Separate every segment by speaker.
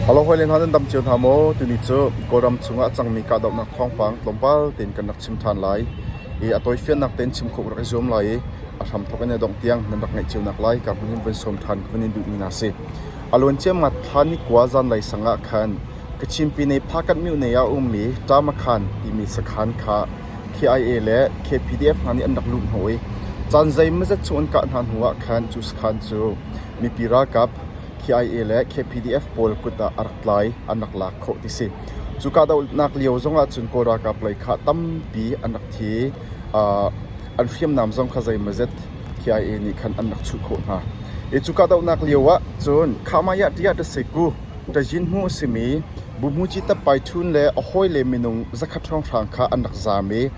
Speaker 1: Halo hawile hna nan dam cio hna maw? timi cu Kawlram chungah a cangmi kahdohnak thawngpang tlawmpal tein kan rak chim ṭhan lai i a tawifiannak tein chim khawh ka rak i zuam lai i a hramthawk in a dongh tiang nan rak ngaih cionak lai ka hmun in van sawm ṭhan ka vun in duhmi hna a si. A luan ciamma thla nikua zanlei sangah khan Kachinpi nei Phakat Myone ah a ummi Ṭamakhan timi sakhan kha KIA le KPDF hna nih an rak luh hnawh i caan zeimawzet chung an kah hna hnuah khan cu sakhan cu Mipi ralkap KIA le KPDF pawl kut ah a rak tlai an rak lak khawh ti si. Cu kahdohnak lio zong ahcun Kawl ralkap lei kha tampi an rak thi i an hriamnam zong kha zeimawzet KIA nih khan an rak chuh khawh hna. I cu kahdohnak lio ah cun Khamayah Ṭiah Ṭaseku, Ṭajinhmu a simi Buhmuci Tatpai Ṭhun le a hawile minung zakhat hrawnghrang kha an rak zam i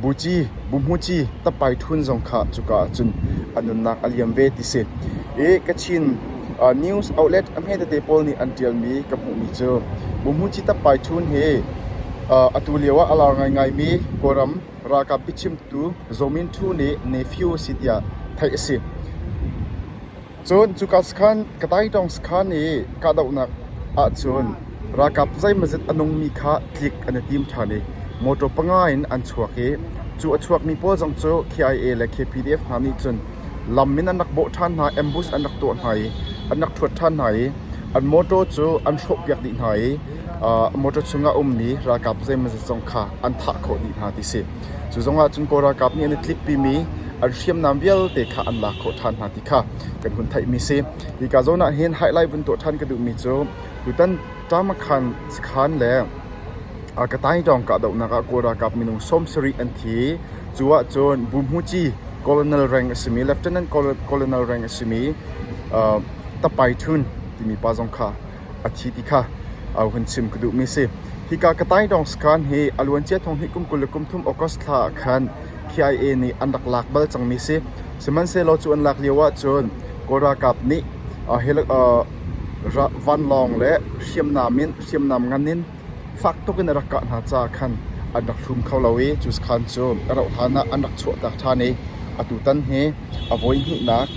Speaker 1: Buci, Buhmuci, Tappai Ṭhun zong kha cuka ah cun a nunnak a liam ve ti si. I Kachin news outlet a hme tete pawl nih an ṭialmi ka hmuhmi cu Buhmuci Tappai Ṭhun hi atu lioah a lar ngaingaimi Kawlram ralkap biachimtu Zaw Min Ṭhu nih nephew a si tiah theih a si. Cun cuka sakhan ka taidawng sakhan i kahdohnak ahcun ralkap zeimazet a nungmi kha tlik an i tim ṭhan i motor panga in an chuak i cu a chuakmi pawl zong cu KIA le KPDF hna nih cun lam in an rak bawh ṭhan hna, ambush an rak tuah hna i an rak ṭhuat ṭhan hna i an motor cu an hrawhpiak dih hna i motor chungah a ummi ralkap zeimazet zong kha an thah khawh dih hna ti a si. Cu zongah cun Kawl ralkap nih an i tlippimi an hriamnam vialte kha an lak khawh ṭhan hna ti kha kan hun theihmi a si. Hika zawn ah hin highlight vun tuah ṭhan ka duhmi cu tutan Tamakhan sakhan le Kataydawng kahdohnak ah Kawl ralkap minung sawm sarih an thi. Cu ahcun Bumhuci colonel reng a simi Lieutenant Colonel reng a simi Tapai Htun timi pa zong kha a thi ti kha ohan chim ka duhmi a si. Hika ka taidawng sakhan hi a luancia thong hnih kum kul le kum thum August thla ah khan KIA nih an rak lak bal cangmi si. Sihmanhsehlaw cu an lak lio ahcun Kawl ralkap nih vanlawng le hriamnam in hriamnam ngan in fak tuk in a rak kah hna caah khan an rak thlum kho lo i cu sakhan cu a rauh hlan ah an rak chuahtak ṭhan i atutan hi a voi hnihnak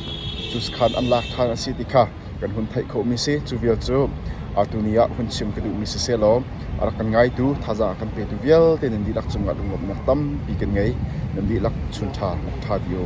Speaker 1: cu sakhan an lak ṭhan a si ti kha kan hun theih khomi si. Cu vial cu atu ni ah hun chim ka duhmi sisehlaw a rak kan ngaitu thazaang a kan petu vialte nan dihlak cungah lunglawmhnak tampi kan ngei. Nan dihlak chun ṭha, lak ṭha dih u.